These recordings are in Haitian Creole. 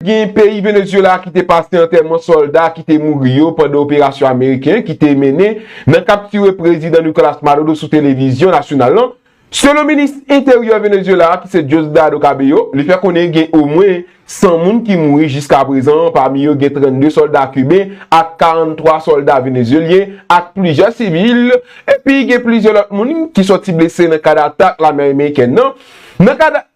Gen peyi Venezuela ki te pase antèman sòlda ki te mouri yo pandan operasyon ameriken ki te mennen nan kaptire Prezidan Nicolas Maduro sou televizyon nasyonal lan. Selon minis enteryè Venezuela a ki se Diosdado Cabello, li fè konnen gen omwen 100 moun ki mouri jiskaprezan an pami yo gen 32 sòlda kiben ak 43 sòlda venezuelyen ak plizyè sivil epi gen plizyè lòt moun ki sòti blese nan kad atak lame amerikèn nan nan kad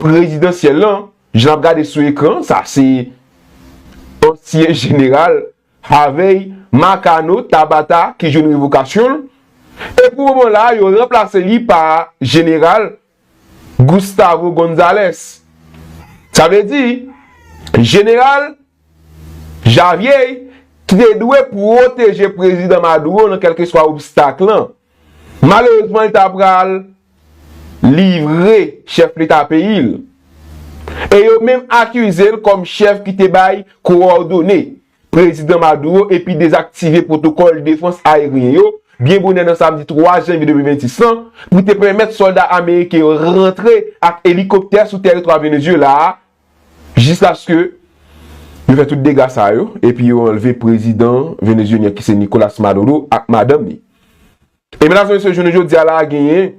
prezidansyèl lan, jan n ap gade sou ekran an, sa se ansyen jeneral Harvey Marcano Tabata ki jwenn revokasyon l, e pou moman la a yo ranplase li pa jeneral Gustavo Gonzalez. Sa vle di, jeneral Javier ki te dwe pwoteje prezidan Maduro nan kèlkeswa obstak lan, Malerezman li ta pral livre chèf leta peyi l e yo menm akize l kòm chèf ki te bay kowòdone prezidan Maduro epi dezaktive pwotokòl defans aeryen yo byen bonè nan samdi 3 janvye 2026 lan pou te pèmèt sòlda ameriken yo rantre ak elikoptè sou tèritwa Venezyela a Jiskaske yo fè tout dega sa yo epi yo anlve prezidan venezyelyen ki se Nicolas Maduro ak madanm li. E mennaj mesye jounen jodi a la a genyen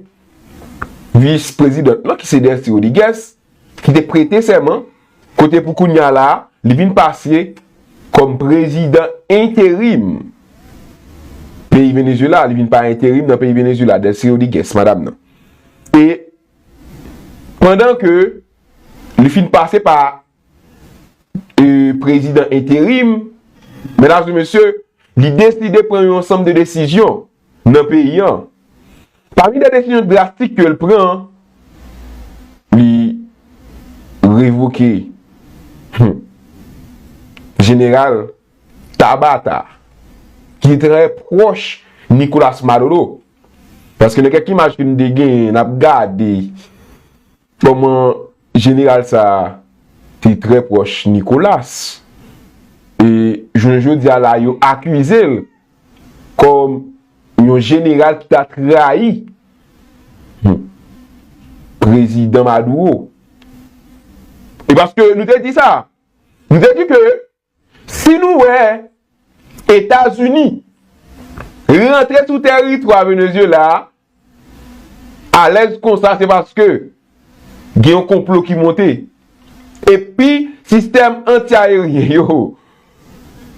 vis prezidant lan ki se Delcy Rodriguez ki te prete sèman kote pou kounye a la a li vin pase kòm prezidan enterim peyi Venezyela, li vin pa enterim nan peyi Venezyela Delcy Rodriguez, madam nan. E pandan ke. li fin pase pa prezidan enterim, medam e mesye, li deside pran yon ansanm de desizyon nan peyi an. Pami de desizyon drastik ke l pran, li revoke jeneral Tabata ki te trè pwòch Nicolas Maduro. Paske nan kèk imaj ke nou te genyen, n ap gade. Kòman jeneral sa a te trè pwòch Nicolas e jounen jodi a la yo akize l kòm yon jeneral ki ta trayi prezidan Maduro. E paske nou te di sa, nou te di ke Si nou wè Etazini rantre sou teritwa Venezyela a alèz konsa se paske gen yon konplo ki monte. Epi sistèm anti-aeryen yo,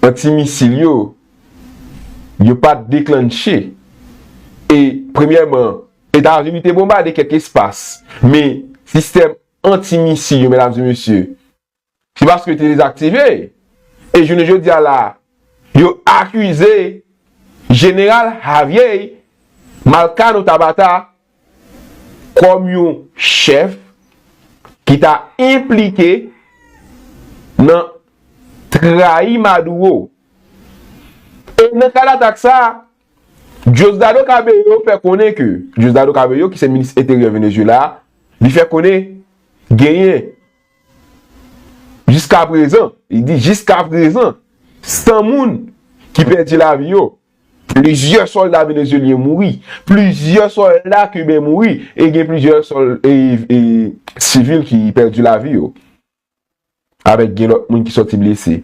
anti-misil yo, yo pa t deklannche. E premyèman, Etazini te bonbade kèk espas, men sistèm anti-misil yo, medam e mesye, Se paske te dezaktive e jounen jodi a la yo akize jeneral Javier Malcano Tabata kòm yon chèf ki ta enplike nan trayi Maduro. E nan kad atak sa a, Diosdado Cabello fè konnen ke, Diosdado Cabello ki se minis enteryè Venezuela, li fè konnen genyen Jiska prezan, li di jiska prezan, 100 moun ki pèdi lavi yo, plizyè sòlda venezyelyen mouri, plizyè sòlda kiben mouri e gen plizyè sivil ki pèdi lavi yo avèk gen lòt moun ki sòti blese.